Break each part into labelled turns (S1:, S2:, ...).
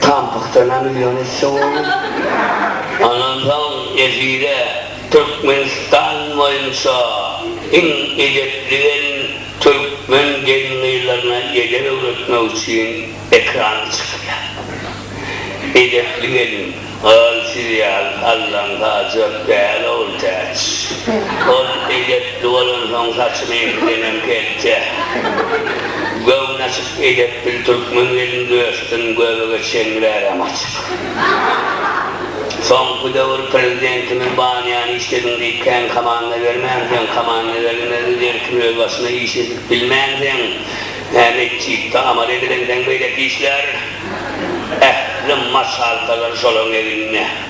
S1: Tampykdanam ýörüşse bolar. Ondan soň efire Türkmenistan boýunça iň edepli gelin türkmen gelin-gyzlaryna edep öwretmek üçin ekrana çykýar. Edepli gelin, Gyz siz ýaly sallan saljak däl ogul täç. Ol edepli bolansoň saçyňyňkydenem kelte. Göwni açyk. Edep bil türkmen gelin dösdüm göbege çenli bärem açyk. Soňky döwür prezidentimiz banýany işlediň diýip kän komanda bermänsoň komanda berilmezdi derkim öz başyna iş edip bilmänseň nä metjitde amal edilenseň beýleki işler ähli maşalkalar şolaň egnine.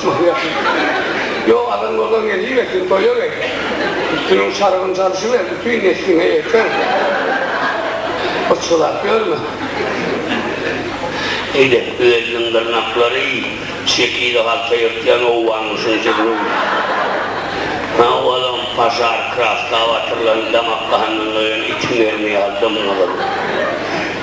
S1: Şyhyýetli. Ýok, adam ozal gelibersin, toýa gel. Üstüniň şarybyny çalyşyber, bütin nesliňe ýeter. Yçgylap ýörme. Eýde, Öýeliniň dyrnaklary şekili halta ýyrtýan owganmyşyn jigruň. Ha, olam paşar kraska batyrlan damak-gandan doýan itiň erni ýaly dym-gyzyl.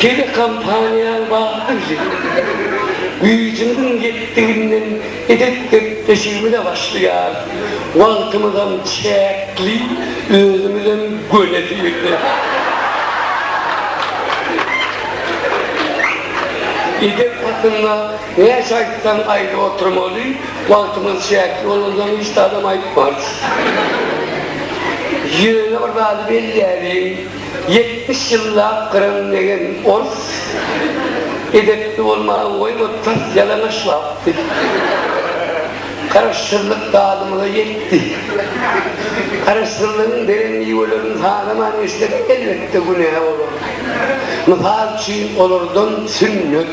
S1: Telekompaniýaň bagtlyjy, güýjümiziň ýetdiginden edep-gepleşigimize başlaýar. Wagtymyzam çäkli, özümizem göni syrly.
S2: Edep hakynda näçe aýtsaň aýdyp oturmaly, wagtymyz çäkli bolansoň hiç zadam aýtmarys. Ýöne bir zady belläliň. Ýetmiş ýyllap gyran degen ors edepli bolmagy goýma tas ýalaňaç wagtdy. Garaşsyzlyk dadymyza ýetdi. Garaşsyzlygyň beren miwelerini sanaman geçsek elbetde günä bolar. Mysal üçin olardan sünnet.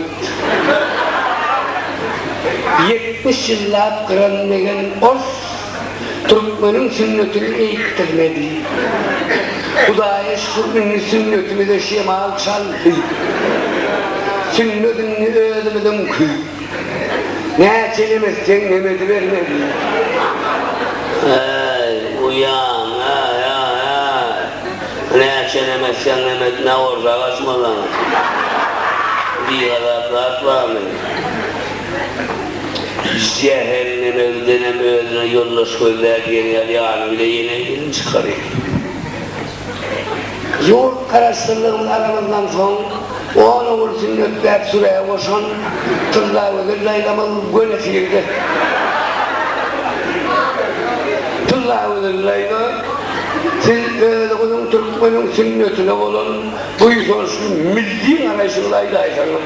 S2: Ýetmiş ýyllap gyran degen ors. Türkmeniň sünnetini eýikdirmedi. Hudaýa şükür indi sünnetimize şemal çaldy. Sünnet indi özümiziňki. Näçe nemesseň nem edibermeli. Äý,
S1: uýam, äý, äý, äý. Näçe nem etseň nem et, ne bolsa agaçmazaň. Bigazaplaat barmy? Jähenneme gidenem özüne ýoldaş gözläp ýeri ýaly bile ýene gelin çykar eken.
S2: Ýurt Garaşsyzlygyny alamazdan soň on ogul sünnetläp sürä goşan Tyllagözel daýzamyz göni sirde. Tyllagözel daýza siz özüňiziň türkmeniň sünnetine bolan buýsançly milli garaýşyňyzy aýdaýsaňyz.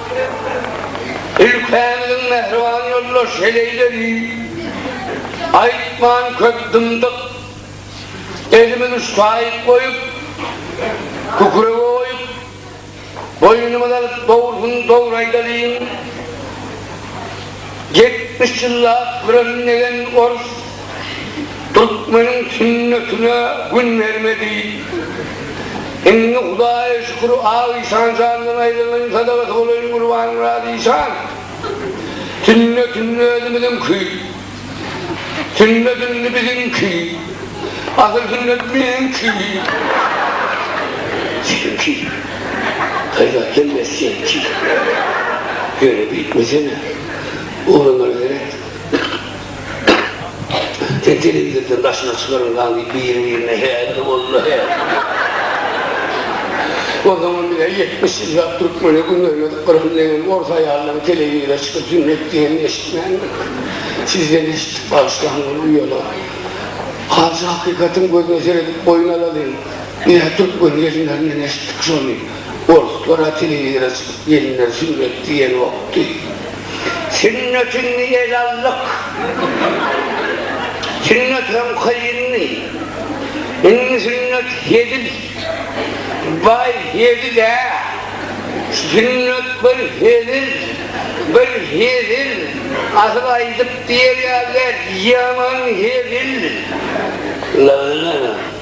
S2: Ülkämizin mähriban ýoldaş heleýleri aýtman köp dymdyk. Elimiz uştaýyk goýup, kükrege goýup, boýnumyz alyp dogrusyn dogry aýdalyň. Ýetmiş ýyllap küremin degen orus Türkmeniň sünnetine gün berme diýip, indi Hudaýa şükür, Ak işan jandan aýrylaýyn sadagasy bolaýyn Gurbanmyrat işan. Sünnet indi özümiziňki. Sünnet indi biziňki. Asyl sünnet meňki.
S1: Seňki. Haýbat hemmesi seňki. Ýöne beýtmesene. Ugramala gerek. Sen telewizordan daşyna çykarylmaň diýip biri-birine häli boldy
S2: hä. O zaman bize ýetmiş ýyllap türkmene gün bermedik gyrgyn degen ors aýallaryň telewizora çykyp sünnet diýenini eşitmändir. Sizden eşitdik bagyşlaň ol uýalar. Hajy hakykatyň gözüne seredip boýun alalyň. Biz-ä türkmen gelinlerinden eşitdik şony. Orslar-a telewizora çykyp gelinleri sünnet diýenokdy. Sünnetini ele aldyk. Sünnet hem kyndy. Indi sünnet hezil. Baý hezil-ä. Sünnet bir hezil, bir hezil. Asyl aýdyp diýer ýaly däl, ýaman hezil.
S1: Labyna.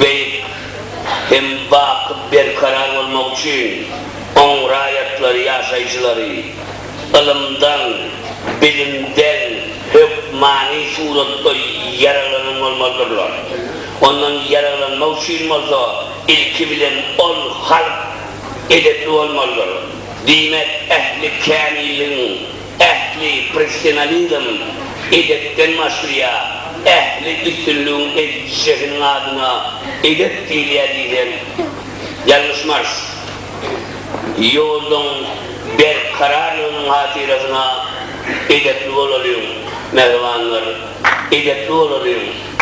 S1: Beýik hem baky berkarar bolmagy üçin oň raýatlary, ýaşaýjylary ylymdan, bilimden hökmany suratda ýaraglanan bolmalydyrlar. Ondan ýaraglanmak üçin bolsa ilki bilen ol halk edepli bolmalydyr. Diýmek, ähli kämilligiň ähli professionalizm edepden başlaýar, ähli üstünligiň ezici şehiniň adyna edep diýilýär diýseň, ýalňyşmarys. Ýoluň berkararlygynyň hatyrasyna edepli bolalyň, mähribanlar, edepli bolalyň!